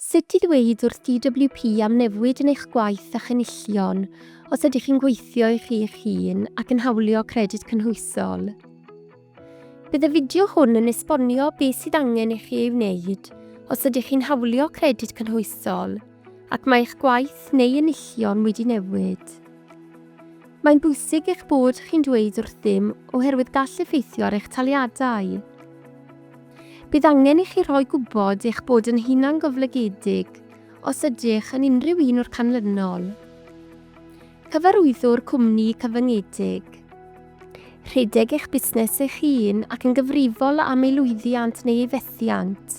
Sut i ddweud wrth DWP am newid yn eich gwaith a'ch enillion os ydych chi'n gweithio i chi eich hun ac yn hawlio Credyd Cynhwysol. Bydd y fideo hwn yn esbonio beth sydd angen i chi ei wneud os ydych chi'n hawlio Credyd Cynhwysol ac mae eich gwaith neu enillion wedi newid. Mae'n bwysig eich bod chi'n dweud wrthym oherwydd gall effeithio ar eich taliadau. Bydd angen i chi rhoi gwybod eich bod yn hunangoflygedig os ydych yn unrhyw un o'r canlynol. Cyfarwyddwr cwmni cyfyngedig. Rhedeg eich busnes eich hun ac yn gyfrifol am ei lwyddiant neu ei fethiant.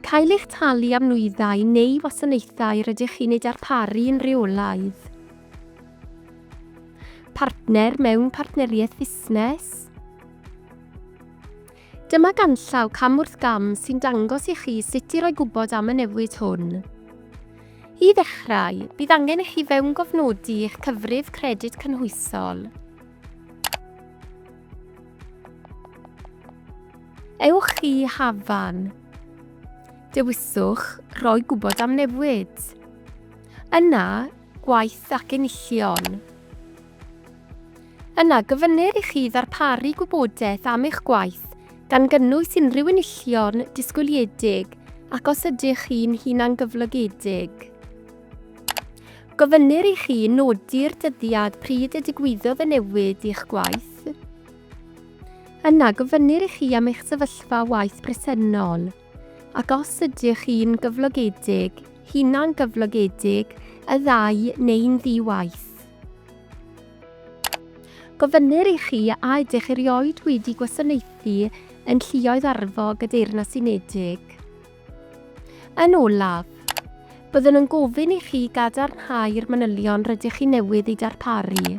Cael eich talu am nwyddau neu wasanaethau rydych chi'n eu darparu yn rheolaidd. Partner mewn partneriaeth fusnes. Dyma ganllaw cam wrth gam sy'n dangos i chi sut i roi gwybod am y newid hwn. I ddechrau, bydd angen i chi fewngofnodi eich cyfrif credyd cynhwysol. Ewch i Hafan. Dewiswch Rhoi gwybod am newid. Yna, gwaith ac enillion. Yna, gofynnir i chi ddarparu gwybodaeth am eich gwaith, gan gynnwys unrhyw enillion disgwyliedig ac os ydych chi'n hunangyflogedig. Gofynnir i chi nodi'r dyddiad pryd y digwyddodd y newid i'ch gwaith. Yna, gofynnir i chi am eich sefyllfa waith presennol. Ac os ydych chi'n gyflogedig, hunan-gyflogedig, y ddau neu'n ddi-waith. Gofynnir i chi a ydych erioed wedi gwasanaethu yn Lluoedd Arfog y Deyrnas Unedig. Yn olaf, byddwn yn gofyn i chi gadarnhau'r manylion rydych chi newydd eu darparu.